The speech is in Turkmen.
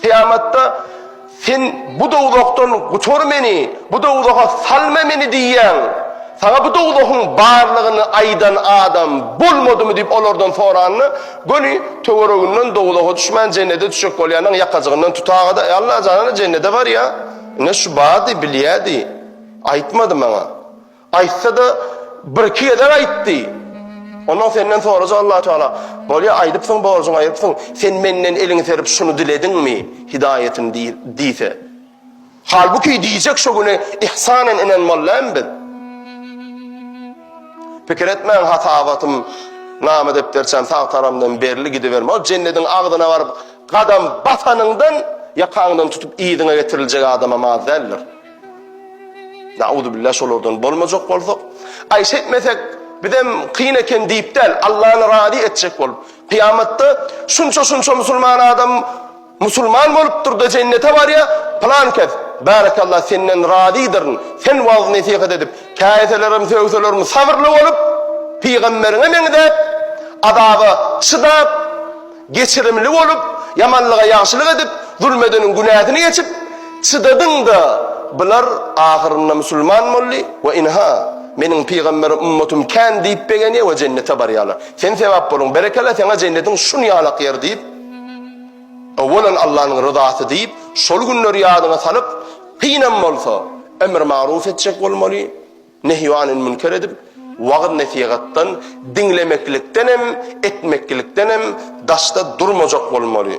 Kyýamatda, Sen bu dowzahdan gutar meni, bu dowzaha salma meni diýýän, Saňa bu dowzahyň barlygyny aýdan adam bolmadymy diýip olardan soranda, göni töwereginden dowzaha düşmän jennete düşjek bolýanyň ýakajygyndan tuta-da, Alla janana jennete barýa, ine şu bardy, bilýädi, aýtmady maňa. Aýtsa-da, birki gezek aýtdy. Ondan senden sorajak Allah Teala, Bolýa, aýdypsyň, borjuňy aýrypsyň, sen menden eliňi serip şuny dilediňmi, hidaýatyny diý diýse. Halbuki diýjek şu güne ihsanan inen mollam biz. Pikir etmäň hasabatym name depderçäm sag taramdan berli gidiberme. Ol jennediň agzyna baryp gadam basanyňdan ýakaňdan tutup yzyňa getiriljek adamam az däldir. Nauzubillah şolardan bolmajak bolsak, aý şeýtmesek bizem kyn eken diýip däl, Allany razy etjek bolup, kyýamatda şunça-şunça musulman adam musulman bolupdyr-da jennete barýar, pylan kes, bärekallah senden razydyryn, sen wagyz-nesihat edip, käýselerem sögselermi sabyrly bolup, pygamberiňe meňzäp, azaba çydap, Geçirimli bolup, ýamanlyga ýagşylyk edip, zulm edeniň günäsini geçip, çydadyň-da, bular ahyrynda musulman boldy we ynha, Meniň pygambere ummatym kän diýip begenýär we jennete barýarlar. Sen sebäp bolan, berekella seňe jennetiň şunýalak ýer diýip, Awalan Allanyň ryzasy diýip, şol günleri ýadyňa salyp, kynam bolsa, emr-magruw etjek bolmaly. Nehy anil münker edip, wagyz-nesihatdan, diňlemeklikden hem, etmeklikden hem daşda durmajak bolmaly.